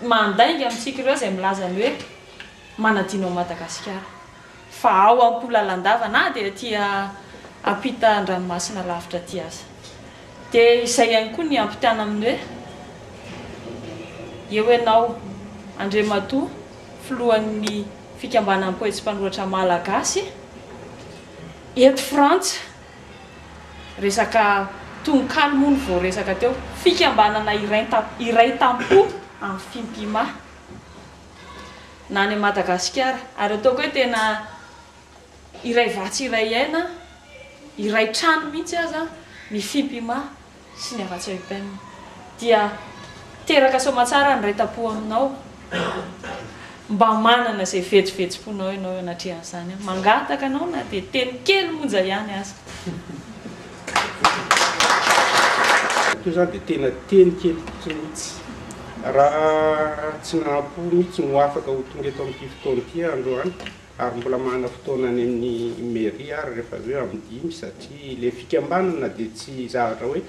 mandainga amintsika ireo izay milaza ny hoe manadino an'i Madagasikara fa ao am-po lalandava na dia aty ampita an-dranomasina lavitra aty aza. Dia izay ihany koa ny ampitana amin'ny hoe eo ianao Andriamatoa filohan'ny fikambanan'ny poetsi-panoratra malagasy eto Frantsa. Resaka tononkalo moa no voaresaka teo. Fikambanana iray tam-po amin'ny Fimpima na any Madagasikara. Ary ataoko hoe tena iray vatsy iray aina, iray trano mihitsy aza ny Fimpima sy ny Avatsa Upem dia teraka soamatsara ny raitampo aminao mba manana izay vetivetiponao ianao eo anatrehan'izany aho mangataka anao na dia teny kely monja ihany aza. Io izany dia tena teny kely fotsiny mihitsy. Raha tsy nahampo mihitsy ny ho afaka ho tonga eto amin'ity fotoana ity aho androany Ary mbola manana fotoana any amin'ny mairie ary rehefa avy eo amin'ny dimy satria ilay fikambanana dia tsy zavatra hoe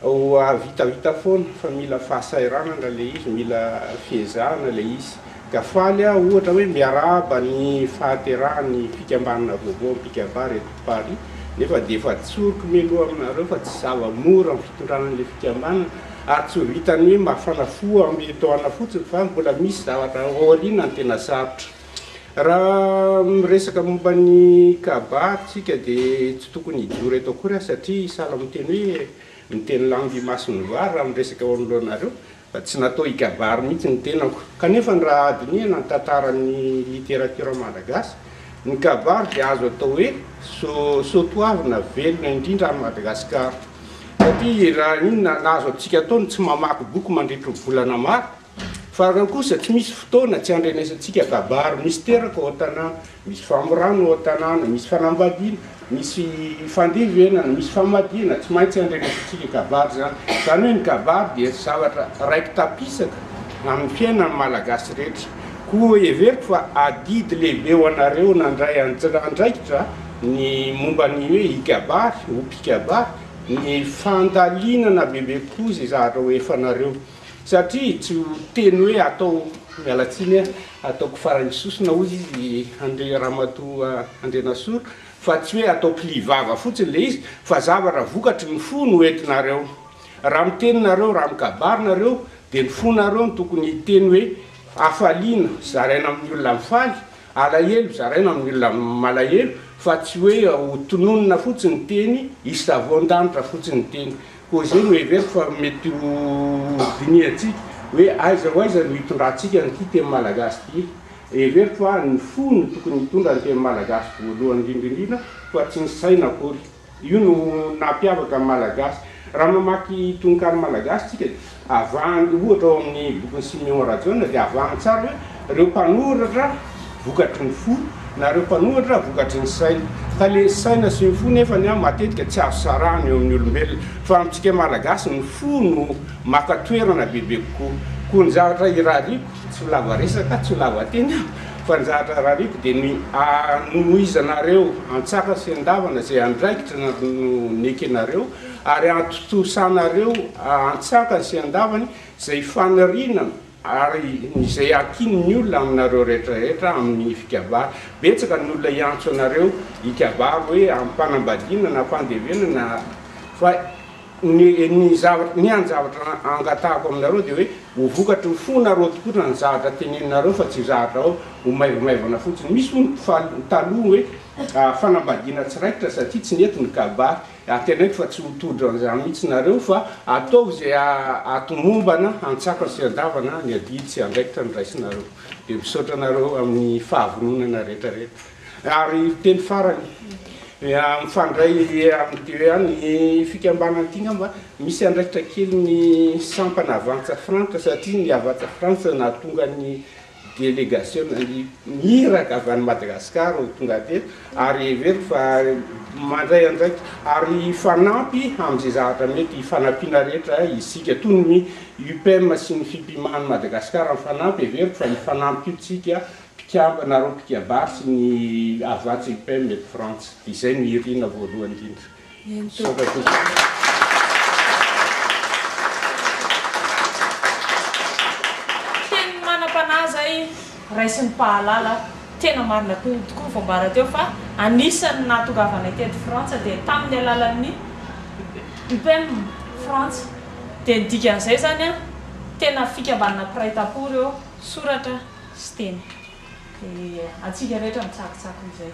hoavitavita foana fa mila fahasahiranana ilay izy, mila fiezahana ilay izy. Ka faly aho ohatra hoe miarahaba ny fahaterahan'ny fikambanana vaovao Mpikabary eto Paris nefa dia efa tsoriko mialoha aminareo fa tsy zava-mora ny fitondrana an'ilay fikambanana ary tsy ho vitan'ny hoe mafana fo amin'ny etoana fotsiny fa mbola misy zavatra ao aoriana ny tena sarotra. Raha miresaka momba ny Ka'bah ary tsika dia tsy tokony hijoro eto akory aho satria i Salah miteny hoe miteny langue imason'ny vary raha miresaka eo anoloanareo fa tsy natao hikabary mihitsy ny tenako. Kanefa ny raha hadinihana ny tantaran'ny literatiora malagasy, ny kabary dia azo atao hoe so soatoavina velona indrindra any Madagasikara satria raha inona na azo antsika atao ny tsy mamaky boky mandritry ny volana maro, Farany kosa, tsy misy fotoana tsy andrenesantsika kabary misy teraka ao an-tanàna, misy famorana ao an-tanàna, misy fanambadiana, misy fandevenana, misy famadihana, tsy maintsy andrenesantsika kabary izany. Izany hoe ny kabary dia zavatra raiki-tapisaka amin'ny fiainan'ny Malagasy rehetra. Koa heveriko fa adidy lehibe ho anareo nandray andraikitra ny momba ny hoe hikabary, ho mpikabary, ny fandalinana bebe kokoa izay zahatra ho efanareo. Satria tsy ho teny hoe atao miala tsiny a, ataoko faran'ny sosona hoy izy i Andry Ramatoa Andrianasolo fa tsy hoe atao pli vava fotsiny le izy fa zavatra vokatry ny fo no entinareo. Raha miteny nareo, raha mikabary nareo de ny fonareo no tokony hiteny hoe hafaliana zaraina amin'ny olona mifaly, alahelo zaraina amin'ny olona malahelo fa tsy hoe ho tononina fotsiny teny, hisavoan-danitra fotsiny teny. Koa izay no heveriko fa mety ho dinihantsika hoe aiza ho aiza no hitondrantsika an'ity teny malagasy ity. Heveriko fa ny fo no tokony hitondra ny teny malagasy voalohany indrindra indrindra fa tsy ny saina akory. Io no naha mpiavaka ny malagasy. Raha mamaky tononkalo malagasy tsika dia. Avahany, ohatra, ao amin'ny bokin'i Simeon Rajaona dia avahany tsara hoe ireo mpanoratra vokatry ny fo na ireo mpanoratra vokatry ny saina. Fa le saina sy ny fo nefany an matetika tsy azo sarahana eo amin'ny olombelona. Fa amintsika Malagasy ny fo no maka toerana bebe kokoa. Koa ny zavatra irariako, tsy ho lava resaka aho, tsy ho lava teny aho, fa ny zavatra irariako dia ny hanohizanareo antsaka sy andavana izay andraikitra no nekenareo, Ary hahatontosanareo an-tsakany sy an-davany izay faniriana ary izay hakiany ny olona aminareo rehetrarehetra amin'ny fikabary. Betsaka ny olona hiantso anareo hikabary hoe am-panambadiana na fandevenana, fa ny ny zavatra, ny an-javatra angatahako aminareo dia hoe ho vokatry ny fonareo tokoa raha ny zavatra teneninareo fa tsy zavatra hoe ho maivomaivana fotsiny. Misy hono mpifaly taloha hoe fanambadiana tsy raikitra satria tsy nety ny kabary. Ary teneniko fa tsy ho tojo an'izany mihitsy nareo fa ataovy izay hahatomombana hantsakany sy handavana ny adidy sy andraikitra noraisinareo. Dia misaotra anareo amin'ny fahavononana rehetra rehetra. Ary teny farany, mifandray amin'ity hoe an, ny fikambanana ity ngamba misy andraikitra kely ny sampana Avanca Frantsa satria ny Avanca Frantsa nahatonga ny Delegasiona iraka avy any Madagasikara ho tonga teto ary heveriko fa mandray andraikitra ary hifanampy amin'izay zavatra mety hifanampiana rehetra isika. Toy ny UPEM sy ny Fipiman'i Madagasikara mifanampy, heveriko fa hifanampy koa isika mpikambana roa mpikabary sy ny Havàtsa UPEM eto Frantsa. Izay no irina voalohany indrindra. Teny manam-panahy izay raisin'ny mpahalala, tena marina tokoa tokoa ny voambara teo fa anisan'ny nahatongavanay teto Frantsa dia tamin'ny alalan'ny UPEM Frantsa dia ny dikan'izay izany tena fikambanana mpiray tampo ireo soratra sy teny dia antsika rehetra mitsakitsako izay.